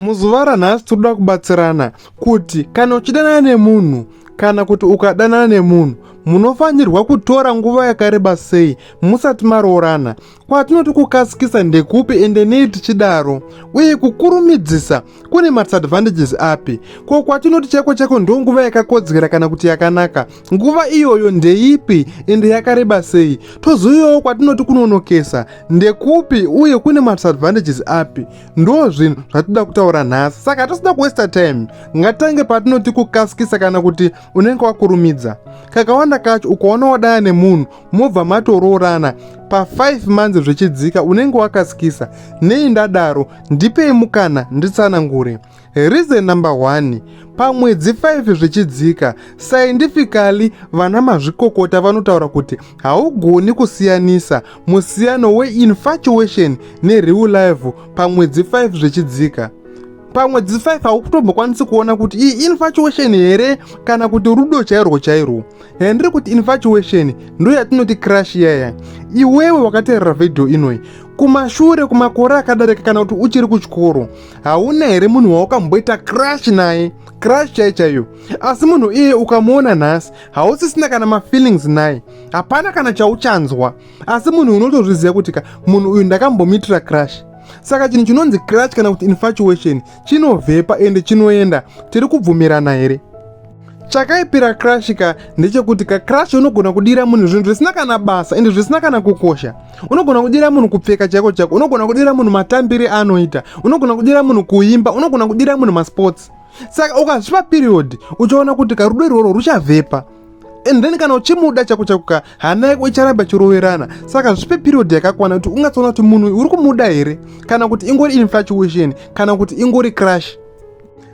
Muzuva ranhasi tinoda kubatsirana kuti kana uchidanana nemunhu kana kuti ukadanana nemunhu munofanirwa kutora nguva yakareba sei musati maroorana kwatinoti kukasikisa ndekupi ende nei tichidaro uye kukurumidzisa kune madisadvantages api ko kwatinoti chaiko chaiko ndo nguva yakakodzera kana kuti yakanaka nguva iyoyo ndeipi ende yakareba sei tozouyawo kwatinoti kunonokesa ndekupi uye kune madisadvantages api ndo zvinhu zvatinoda kutaura nhasi saka hatisida kuwesta time ngatange patinoti kukasikisa kana kuti unenge wakurumidza kakawanda kacho ukaona wadaya nemunhu mobva matoroorana pa5 months zvichidzika unenge wakasikisa nei ndadaro ndipei mukana nditsanangure Reason number one, pamwedzi 5 zvichidzika, scientifically vana mazvikokota vanotaura kuti haugoni kusiyanisa musiyano weinfatuation nereal life pamwedzi 5 zvichidzika pamwedzi 5 haukutombokwanisi kuona kuti iyi infatuation here kana kuti rudo chairwo chairwo handiri kuti infatuation ndo yatinoti crash yaya iwewe wakateerera vhidhiyo inoyi kumashure kumakore akadarika kana kuti uchiri kuchikoro hauna here munhu wawakamboita crash naye crash chai chaiyo asi munhu iye ukamuona nhasi hausisina kana mafeelings naye hapana kana chauchanzwa asi munhu unotozviziva kuti ka munhu uyu ndakambomitira crash saka chinhu chinonzi crash kana kuti infatuation chinovhepa ende chinoenda tiri kubvumirana here chakaipira crash ka ndechekuti ka crash unogona kudira munhu zvinhu zvisina kana basa ende zvisina kana kukosha unogona kudira munhu kupfeka chaiko chaiko unogona kudira munhu matambire anoita unogona kudira munhu kuimba unogona kudira munhu masports saka ukazvipa period uchaona kuti karudo irworwo ruchavhepa and then kana uchimuda chako chako ka hana yako icharamba chiroverana saka zvipe period yakakwana kuti ungatsoona kuti munhu uri kumuda here kana kuti ingori infatuation kana kuti ingori crash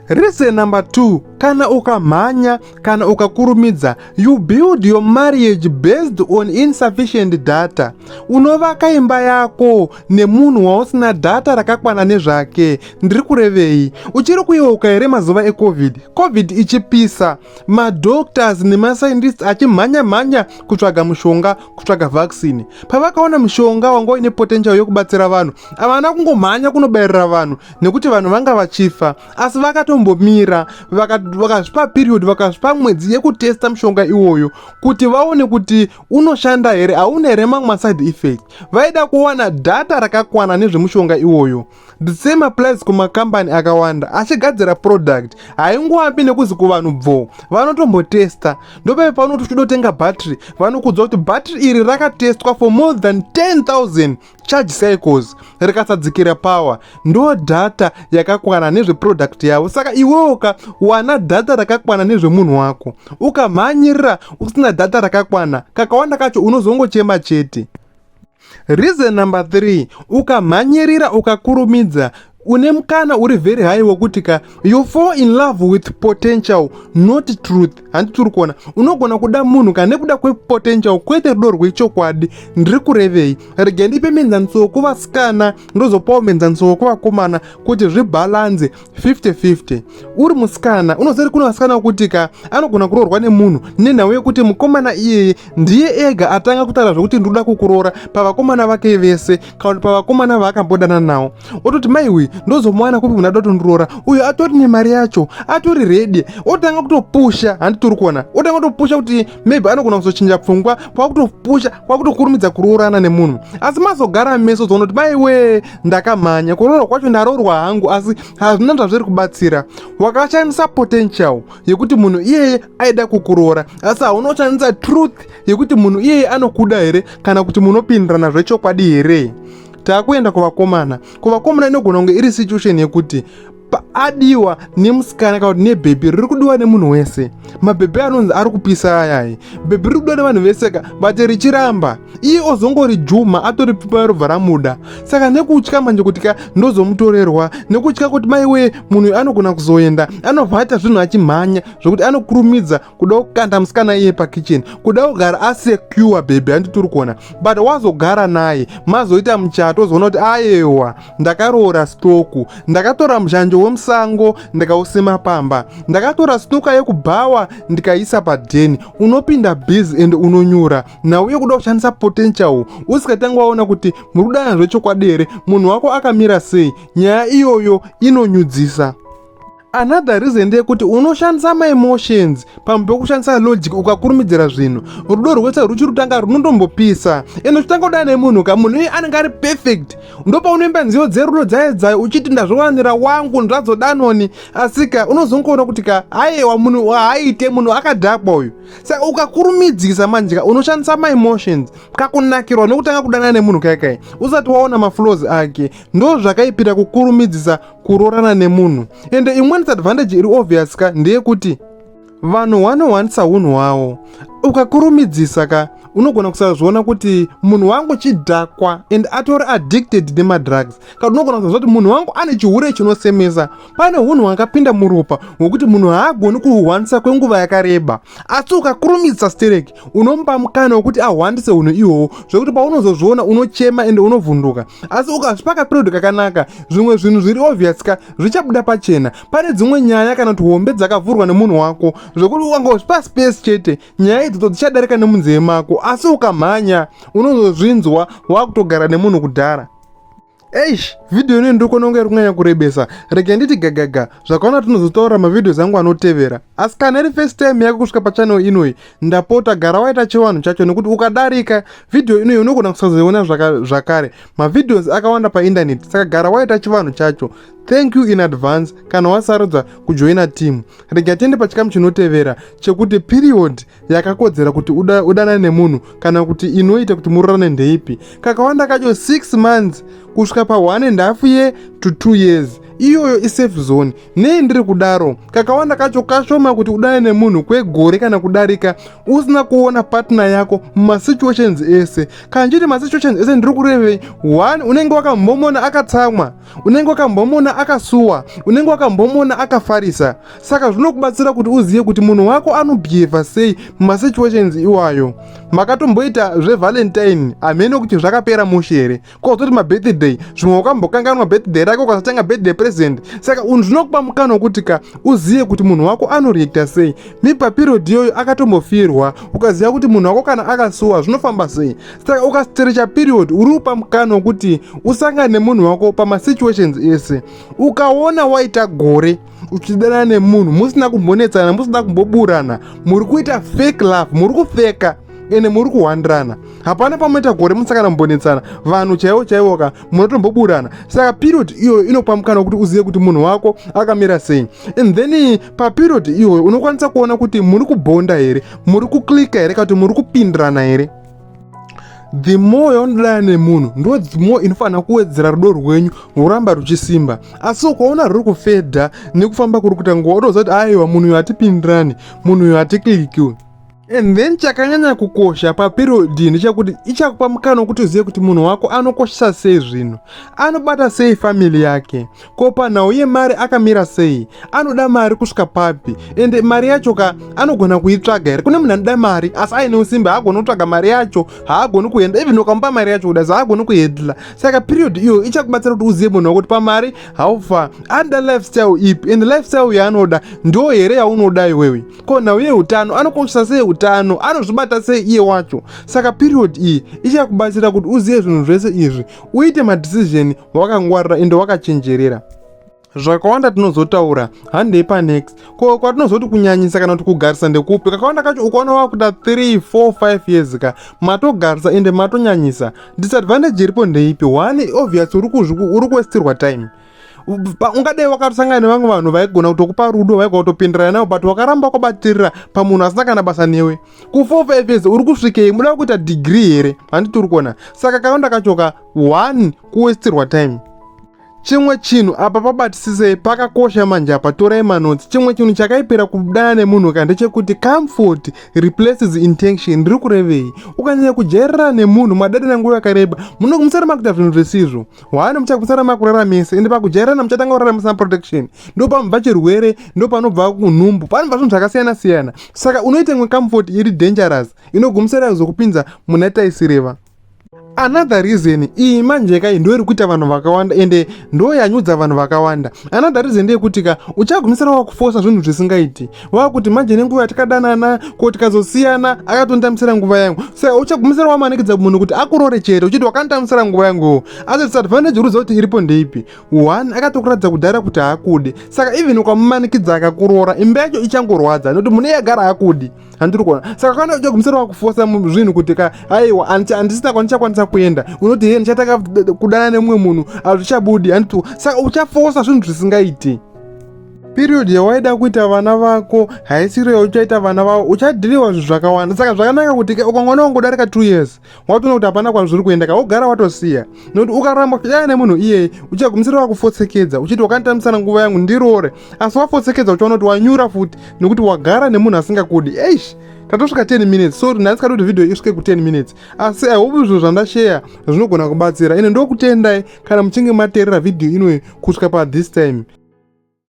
Reason number two, kana ukamhanya kana ukakurumidza you build your marriage based on insufficient data. Unovaka imba yako nemunhu wausina data rakakwana nezvake. Ndiri kurevei? Uchiri kuyeuka here mazuva ecovid? Covid ichipisa, madoctors nemascientists achimhanya mhanya kutsvaga mushonga, kutsvaga vaccine. Pavakaona mushonga wanga uine potential yokubatsira vanhu, havana kungomhanya kunobairira vanhu. nekuti vanhu vanga vachifa asi vakatombomira vakazvipa period vakazvipa mwedzi yekutesta mushonga iwoyo kuti vaone kuti unoshanda here hauna here mamwe maside effect vaida kuwana data rakakwana nezvemushonga iwoyo the same applies kumakambani akawanda achigadzira product haingoambi nekuzi kuvanhu bvo vanotombotesta ndopeve paunoti uchitodotenga battery vanokudzwa kuti battery iri rakatestwa for more than 10000 charge cycles rikasadzikira power ndo data yakakwana nezveproduct yavo saka iwewo ka wana data rakakwana nezvemunhu wako ukamhanyirira usina data rakakwana kakawanda kacho unozongochema chete reason number 3 ukamhanyirira ukakurumidza une mukana uri very high wekuti ka you fall in love with potential not truth handi tiri kuona unogona kuda munhu kana nekuda kwepotential kwete rudo rwechokwadi ndiri kurevei rega ndipe menzaniso wekuvasikana ndozopawo menzaniso wekuvakomana kuti zvibhalanze 50-50 uri musikana unoziva kuti kune vasikana wekuti ka anogona kuroorwa nemunhu nenhau yekuti mukomana iyeye ndiye ega atanga kutaura zvekuti ndinoda kukuroora pavakomana vake vese kana kuti pavakomana vaakambodana nawo ototi maiwe ndozomuwana kupi munada kutondiroora uyo atori nemari yacho atori redi otanga kutopusha handi tiri kuona otanga kutopusha kuti maybe anogona kuzochinja pfungwa kwakutopusha kwakutokurumidza kuroorana nemunhu asi mazogara meso zoona kuti maiwe ndakamhanya kuroora kwacho ndaroorwa hangu asi hazvina zvazviri kubatsira wakashandisa potential yekuti munhu iyeye aida kukuroora asi hauna kushandisa truth yekuti munhu iyeye anokuda here kana kuti munopindirana zvechokwadi here taakuenda kuvakomana kuvakomana inogona kunge iri situation yekuti paadiwa nemusikana kana kuti nebhebhi riri kudiwa nemunhu wese mabhebhi anonzi ari kupisa ayai bhebhi riri kudiwa nevanhu vese ka but richiramba iye ozongori juma atori pipa robva ramuda saka nekutya manje kuti ka ndozomutorerwa nekutya kuti maiwee munhu uyu anogona kuzoenda anobva aita zvinhu achimhanya zvekuti anokurumidza kuda kukanda musikana iye pakitchen kuda kugara asecure bhebhi handi tiri kuona but wazogara naye mazoita muchato ozoona kuti ayewa ndakaroora stoku ndakatora muzhanjo wemusango ndikausima pamba ndakatora snoka yekubhawa ndikaisa padheni unopinda busy and unonyura nauye kuda kushandisa potential usikatange waona kuti muri kudana zvechokwadi here munhu wako akamira sei nyaya iyoyo inonyudzisa Another reason ndeyekuti unoshandisa maemotions pamwe pekushandisa logic ukakurumidzira zvinhu. Rudo rwese ruchi rutanga runondombopisa ende uchitanga kudana nemunhu ka munhu iye anenge ari perfect ndopaunoimba nziyo dzerudo dzaedzayo uchiti ndazvovanira wangu ndazvodanoni asika unozongoona kuti ka ayewa munhu haaite munhu akadhakwa uyu saka ukakurumidzisa manje ka unoshandisa maemotions kakunakirwa nekutanga kudana nemunhu kaikai usati waona maflows ake ndo zvakaipira kukurumidzisa kuroorana nemunhu ende imwe disadvantage iri obvious ka ndeyekuti vanhu wanowanisa hunhu hwawo ukakurumidzisa ka unogona kusazviona kuti munhu wangu chidhakwa and atori addicted nemadrugs kana unogona kusaziva kuti munhu wangu ane chihure chinosemesa pane hunhu hwakapinda muropa hwekuti munhu haagoni kuhuhwanisa kwenguva yakareba asi ukakurumidzisa stereki unomupa mukana wekuti ahwandise hunhu ihwohwo zvekuti paunozozviona unochema ende unovhunduka asi ukazvipa kaperiod kakanaka zvimwe zvinhu zviri obvious ka zvichabuda pachena pane dzimwe nyaya kana kuti hombe dzakavhurwa nemunhu wako zvekuti ukangozvipa space chete nyaya idzodzo dzichadarika nemunzeve mako asi ukamhanya unozozvinzwa wakutogara nemunhu kudhara eish vhidhiyo ino ndokona kunge iri kunyanya kurebesa rege nditi gagaga zvakaona tinozotaura mavhidhios angu anotevera asi kana iri first time yako kusvika pachanel inoyi ndapota gara waita chivanhu chacho nekuti ukadarika vhidhiyo inoyi unogona kusazoiona zvakare mavhidhios akawanda paindaneti saka gara waita chivanhu chacho thank you in advance kana wasarudza kujoina team rega tiende pachikamu chinotevera chekuti period yakakodzera kuti uda, udanane nemunhu kana kuti inoita kuti murorane ndeipi kakawanda kacho 6 months kusvika pa 1 and half year to 2 years iyoyo isafe zone nei ndiri kudaro kakawanda kacho kashoma kuti udane nemunhu kwegore kana kudarika usina kuona partner yako mumasituations ese kana chiti masituations ese ndiri kurevei one unenge wakambomona akatsamwa unenge wakambomona akasuwa unenge wakambomona akafarisa saka zvinokubatsira kuti uzive kuti munhu wako anobhiyevha sei mumasituations iwayo makatomboita zvevalentine hameno kuti zvakapera mushe here kozoti mabirthday zvimwe ukambokanganwa birthday rake ukasatanga birthday present saka unhu zvinokupa mukana wekuti ka uzive kuti munhu wako anoreacta sei mipapirodi iyoyo akatombofirwa ukaziva kuti munhu wako kana akasuwa zvinofamba sei saka ukasiterecha period uri kupa mukana wekuti usangane nemunhu wako pamasituations ese ukaona waita gore uchidanana nemunhu musina kumbonetsana musina kumboburana muri kuita fake love muri kufeka ende muri kuhwandirana hapana pamoita gore musakana mumbonetsana vanhu chaivo chaivo ka munotomboburana saka period iyoyo inopa mukana wekuti uzive kuti munhu wako akamira sei and then paperiod iyoyo unokwanisa kuona kuti muri kubhonda here muri kuklika here kana kuti muri kupindirana here the more yaunodana nemunhu ndo the more inofanira kuwedzera rudo rwenyu ruramba ruchisimba asi ukaona ruri kufedha nekufamba kuri kuita nguva utoziva kuti aiwa munhu uyo hatipindirani munhu uyo hatiklikiwe and then chakanyanya kukosha paperodhi ndechekuti ichakupa mukana wekuti uzive kuti munhu wako anokoshesa sei zvinhu anobata sei family yake ko panhau yemari akamira sei anoda mari kusvika papi ende mari yacho ka anogona kuitsvaga here kune munhu anoda mari asi aine usimbe haagoni kutsvaga mari yacho haagoni kuenda even ukamupa mari yacho kuda haagoni kuhendla saka period iyo ichakubatsira kuti uzive munhu wakuti pamari haufa anoda lifestyle ipi ende lifestyle yaanoda ndo here yaunoda iwewe ko nhau yeutano anokoshesa sei utano anozvibata sei iye wacho saka period iyi ichakubatsira kuti uzive zvinhu zvese izvi uite madecision wakangwarira ende wakachenjerera zvakawanda tinozotaura handei panext ko kwatinozoti kunyanyisa kana kuti kugarisa ndekupi kakawanda kacho ukaona wakuda 3 4 5 years ka matogarisa ende matonyanyisa disadvantage iripo ndeipi one obvious uri kuwestirwa time ungadai wakatosangana nevamwe vanhu vaigona kutokupa rudo vaigona kutopindirana nawo but wakaramba kwabatirira pamunhu asina kana basa newe ku4 5 years uri kusvikei muda kuita degree here handiti uri kuona saka kakawanda kachoka one kuwestirwa time chimwe chinhu apa pabatisisei pakakosha manje apa torai manotsi chimwe chinhu chakaipira kudana nemunhu ka ndechekuti comfort replaces intention ndiri kurevei ukanyanya kujairira nemunhu madadana nguva yakareba munonge musara makuita zvinhu zvisizvo hwani muchakusara makurara mese ende pakujairana muchatanga kurara musina protection ndo panobva chirwere ndo panobva kunhumbu panobva zvinhu zvakasiyana siyana saka unoita imwe comfort iri dangerous inogumisira kuzokupinza muna taisireva another reason iyi manje kai ndo iri kuita vanhu vakawanda ende ndo yanyudza vanhu vakawanda another reason ndeyekuti ka uchagumisira wakufosa zvinhu zvisingaiti wakuti manje nenguva yatikadanana ko tikazosiyana akatonditambisira nguva yangu sa uchagumisira wamanikidza munhu kuti akurore chete uchiti wakanditambisira nguva yangu asi disadvantage uri kuti iripo ndeipi one akatokuratidza kudhara kuti haakude saka even ukamumanikidza akakurora imba yacho ichangorwadza nokuti mune yagara hakudi handiri kuona saka kana uda kumusoro wakufosa zvinhu kuti ka aiwa handisina kwandichakwanisa kuenda unoti he ndichatanga kudana nemumwe munhu hazvichabudi handiti saka uchafosa zvinhu zvisingaiti period yawaida kuita vana vako haisiro yauchaita vana vavo uchadhiriwa zvinhu zvakawanda saka zvakanaka kuti ukangoona wangodarika two years watoona kuti hapana kwazviri kuenda ka wogara watosiya nokuti ukaramba kuchidana nemunhu iyeye uchagumisira wakufotsekedza uchiti wakanditambisana nguva yangu ndiroore asi wafotsekedza uchaona kuti wanyura futi nokuti wagara nemunhu asingakudi eish tatosvika 10 minutes so nhasi kati kuti video isvike ku 10 minutes asi i hope zvinhu zvandasheya zvinogona kubatsira ine ndokutendai kana muchinge mateerera video inoyi kusvika pa this time